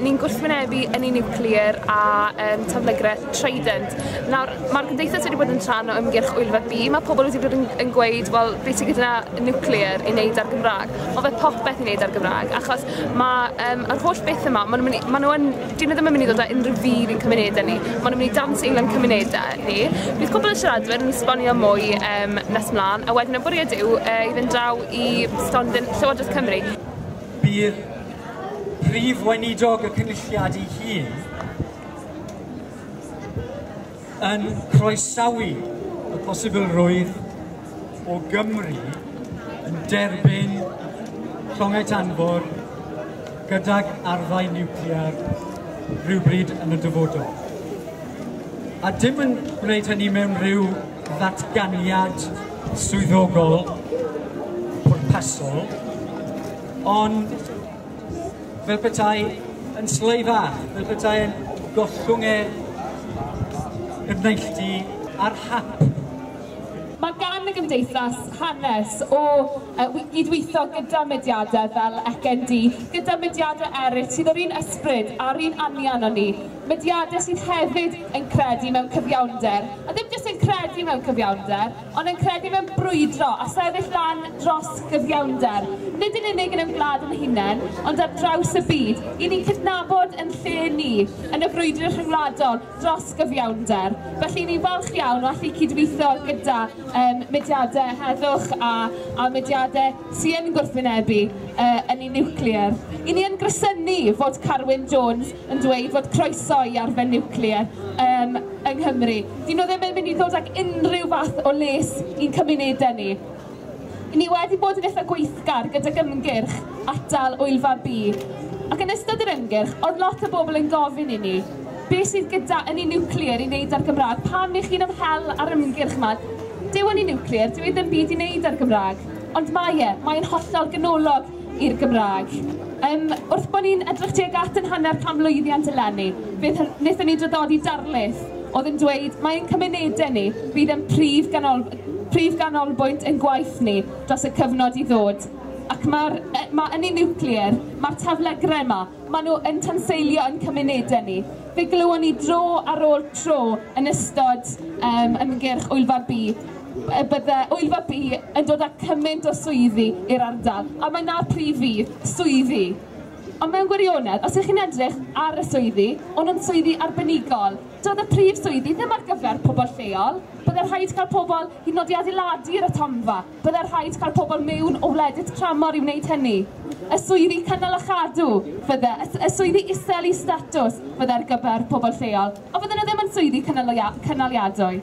Ni'n gwrthwynebu ynni niwclear a um, taflygreth Trident. Nawr, mae'r gymdeithas wedi bod yn rhan o ymgyrch Wylfa B. Mae pobl wedi bod yn, yn gweud, wel, beth sy'n gyda nuclear i wneud ar Gymraeg? Mae fe popeth i wneud ar Gymraeg, achos mae um, yr holl beth yma, maen nhw, maen nhw yn, dyn nhw ddim yn mynd i ddod â unrhyw fydd i'n cymunedau ni. Maen nhw'n mynd i dan seil yn cymunedau ni. Bydd pobl y siaradwyr yn esbonio mwy um, nes mlaen, a wedyn y bwriad yw uh, i fynd draw i stondin Llywodraeth Cymru. Bydd Prif Weinidog y Cynulliad ei hun yn croesawu y posibilrwydd o Gymru yn derbyn llongau tanfor gydag arfau niwclear rhywbryd yn y dyfodol. A dim yn gwneud hynny mewn rhyw ddatganiad swyddogol pwrpasol, Ond fel petai yn sleifa, fel petai yn gollwng e yn neilltu ar hap. Mae gan y Gymdeithas hanes o gydweithio gyda mudiadau fel ECND, gyda mudiadau eraill sydd o'r un ysbryd a'r un anian â ni, mudiadau sydd hefyd yn credu mewn cyfiawnder, a ddim jyst yn credu mewn cyfiawnder, ond yn credu mewn brwydro a sefyll lan dros gyfiawnder, nid yn unig yn ein gwlad yn hunain, ond ar draws y byd, i ni'n cydnabod yn lle ni yn y frwydr rhyngwladol dros gyfiawnder. Felly, ni'n falch iawn o allu cydweithio gyda um, mudiadau heddwch a, a mudiadau sy'n gwrthwynebu uh, yn ei niwclear. I ni yn grysynu fod Carwyn Jones yn dweud fod croeso i arfer niwclear um, yng Nghymru. Dyn nhw ddim yn mynd i ddod ag unrhyw fath o les i'n cymunedau ni. Ni wedi bod yn eitha gweithgar gyda gymgyrch atal wyfa B. Ac yn ystod yr ymgyrch, oedd lot o bobl yn gofyn i ni, be sydd gyda yn ei niwclear i wneud ar Gymraeg? Pam i chi'n ymhel ar ymgyrch yma? Dyw yn ei niwclear, dyw ei ddim byd i wneud ar Gymraeg. Ond mae e, mae'n hollol ganolog i'r Gymraeg. Um, wrth bod ni'n edrych tuag at yn hanner canmlwyddiant eleni, beth wnaethon ni draddodi darlith oedd yn dweud mae ein cymunedau ni fydd yn prif, ganol, prif ganolbwynt yn gwaith ni dros y cyfnod i ddod. Ac mae'r e, mae ynni niwclear, mae'r taflegrau yma, maen nhw yn tanseilio yn cymunedau ni. Fe glywon ni dro ar ôl tro yn ystod um, ymgyrch Wyl Fab B y bydde Wyddfa B yn dod â cymaint o swyddi i'r ardal, a mae 'na'r prif fudd, swyddi. Ond mewn gwirionedd, os ych chi'n edrych ar y swyddi, o'n nhw'n swyddi arbenigol. Doedd y prif swyddi ddim ar gyfer pobl lleol. Bydde rhaid cael pobl hyd yn oed i adeiladu yr atomfa. Bydde rhaid cael pobl mewn o wledydd tramor i wneud hynny. Y swyddi cynnal a chadw, fydde, y swyddi isel i statws, fydde ar gyfer pobl lleol. Ond fydden nhw ddim yn swyddi cynaliadwy.